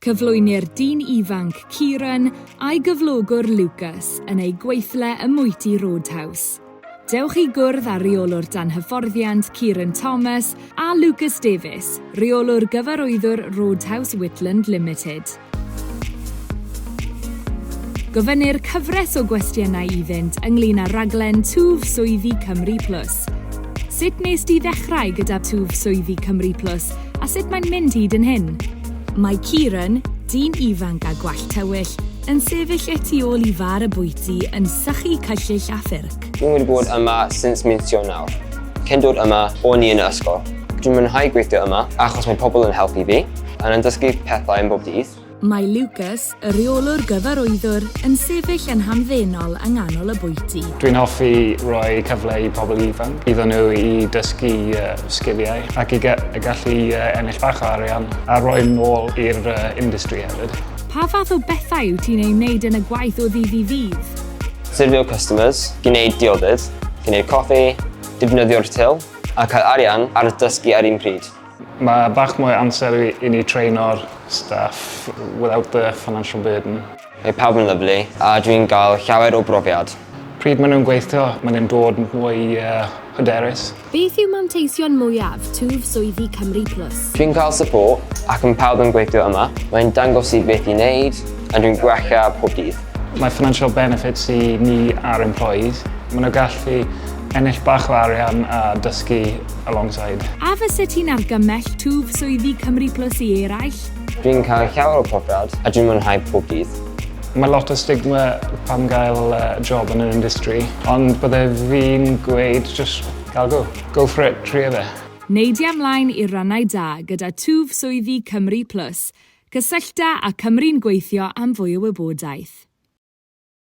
Cyflwynir dyn ifanc, Kieran, a'i gyflogwr, Lucas, yn eu gweithle ym mwyty Roadhouse. Dewch i gwrdd â Rheolwr Dan Hyfforddiant, Kieran Thomas, a Lucas Davies, Rheolwr Gyfarwyddwr Roadhouse Whitland Limited. Gofynnir cyfres o gwestiynau iddynt ynglŷn â rhaglen Twf Swyddi Cymru Plus. Sut wnest ti ddechrau gyda Twf Swyddi Cymru Plus a sut mae'n mynd hyd yn hyn? Mae Kieran, dyn ifanc â gwallt tywyll, yn sefyll y tu ôl i far y bwyty yn sychu cyllyll a ffyrc. Dwi wedi bod yma since mis Ionawr. Cyn dod yma, o'n i yn y ysgol. Dwi'n mwynhau gweithio yma achos mae pobl yn helpu fi, a yn dysgu pethau am bob dydd. Mae Lucas, y rheolwr gyfarwyddwr, yn sefyll yn hamddenol yng nghanol y bwyty. Dwi'n hoffi rhoi cyfle i pobl ifanc, iddyn nhw i dysgu sgiliau ac i gallu ennill bach o arian a rhoi nôl i'r industry hefyd. Pa fath o bethau wyt ti'n eu wneud yn y gwaith o ddydd i ddydd? Syrfio customers, gwneud diodydd, gwneud coffi, defnyddio'r til a cael arian ar dysgu ar un pryd. Mae bach mwy o amser i ni traeno'r staff without the financial burden. Mae pawb yn lyfli a dwi'n gael llawer o brofiad. Pryd maen nhw'n gweithio, maen nhw'n dod mwy hyderus. Beth yw manteision mwyaf twf swyddi Cymru Plus? Dwi'n cael support ac mae pawb yn gweithio yma. Mae'n dangos i beth i wneud a dwi'n gwella pob dydd. Mae financial benefits i ni a'r employees. Maen nhw'n gallu ennill bach o arian a dysgu alongside. A fyset ti'n argymell twf swyddi Cymru Plus i eraill? Dwi'n cael llawer o profiad a dwi'n mwynhau pob dydd. Mae lot o stigma pam gael job yn yr industry, ond bydde fi'n gweud jyst cael go. Go for it, tria fe. Neidia mlaen i'r rannau da gyda twf swyddi Cymru Plus. Cysyllta â Cymru'n Gweithio am fwy o wybodaeth.